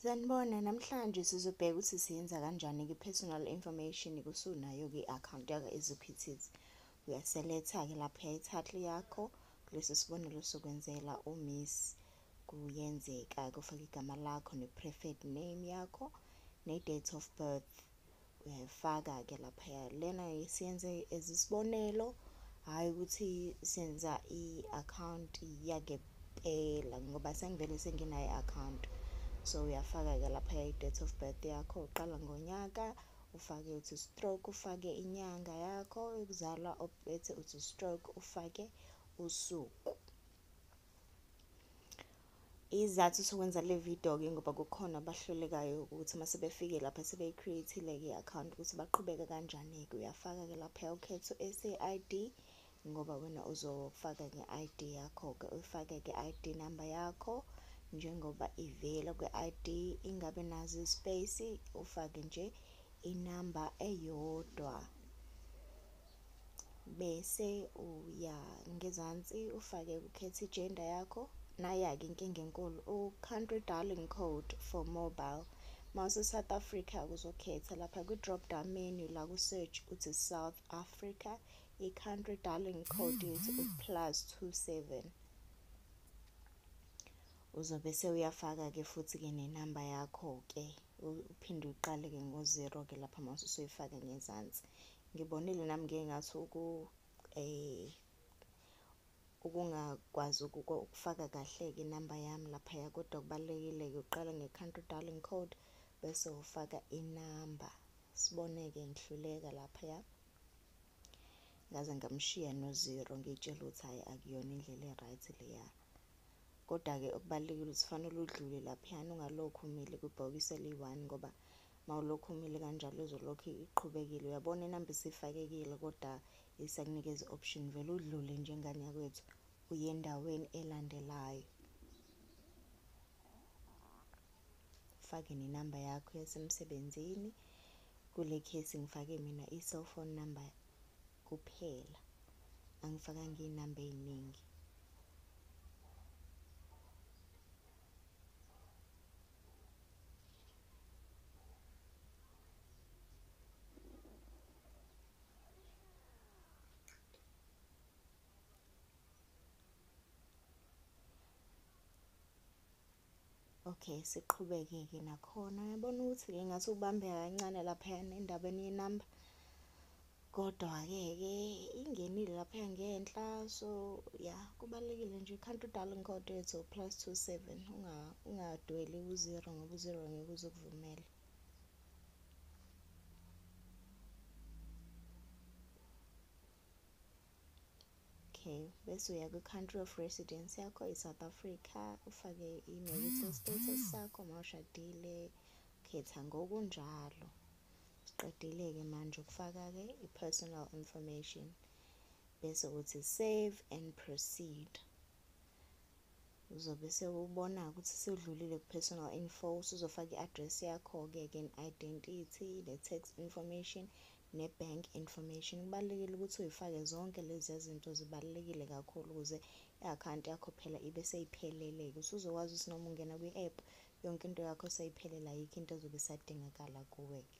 Sanibona, namhlanje sizobheka ukuthi siyenza kanjani ki-personal information kusunayo ki-account yakho eziphithizi. Uyaseletha-ke lapho yayithathu yakho kulesi sibonelo sokwenzela umiss kuyenzeka kufaka igama lakho ne-preferred name yakho ne-date of birth uyayifaka-ke laphaya lena siyenze as isibonelo hhayi ukuthi senza i-akhawunti yakepela ngoba sengivele senginayo i-akhawunti so uyafaka-ke laphaya i-date of birth yakho uqala ngonyaka ufake uthi stroke ufake inyanga yakho yokuzalwa obethe uthi stroke ufake usuku Izathu sokwenza le video-ke ngoba kukhona abahlulekayo ukuthi uma sebefike lapha sebeyi-create-ile-ke i-akhawunti ukuthi baqhubeke kanjani-ke. Uyafaka-ke lapha ukhetho SAID ngoba wena uzofaka nge-ID yakho-ke, uyifake-ke i-ID number yakho njengoba ivela kwi-ID ingabe nazo i-space, ufake nje inamba eyodwa. bese uya ngezansi ufake ukhetha ijenda yakho naya-ke inkinga enkulu u-country darling code for mobile mawuse-south africa kuzokhetha lapha kwi-drop down menu la ku-search uthi south africa i-country darling code yethu u-plus 27 uzobe sewuyafaka-ke futhi-ke nenamba yakho-ke uphinde uqale-ke ngo-zero-ke lapha mase usoyifake ngezansi Ngibonile nami ngeke ngathi uku eh ukungakwazi ukufaka kahle-ke inamba yami laphaya kodwa kubalulekile-ke uqala nge-country dialing code bese ufaka inamba sibone-ke ngihluleka laphaya ngaze ngamshiya no-zero ngiyitshela ukuthi hhayi akuyona indlela e-right leya kodwa-ke okubalulekile ukuthi fanele udlule laphayana ungalokhu umile kwibhokisi eliyi-one ngoba mawulokhu umile kanjalo izolokhu iqhubekile uyabona inamba isifakekile kodwa isakunikeza option vele udlule njengane yakwethu uye endaweni elandelayo fake nenamba yakho yasemsebenzini kule case ngifake mina i-cell phone number kuphela angifakanga iy'namba ey'ningi okay siqhubeke-ke nakhona yabona ukuthi-ke ngathi ubambeka kancane laphayana endabeni yenamba Kodwa-ke ke ingenile lapha ngenhla so ya kubalulekile nje can't do darling code yethu plus 27 unga ungadweli uzero ngoba uzero ngeke uzokuvumela okay bese uya kwi-country of residence yakho i-south africa ufake i-marital status sakho mawushadile khetha ngokunjalo Siqedile-ke manje ukufaka-ke i-personal information bese uthi save and proceed. Uzobe sewubona ukuthi sewudlulile ku-personal info, usuzofaka i-address yakho-ke ke identity, ne-tax information, ne-bank information. Kubalulekile ukuthi uyifake zonke lezi zinto zibalulekile kakhulu ukuze i-akhawunti yakho phela ibe seyiphelele-ke. Usuzokwazi ukuthi noma ungena kwi-app yonke into yakho seyiphelela ayikho into ezobe isadingakala kuwe ke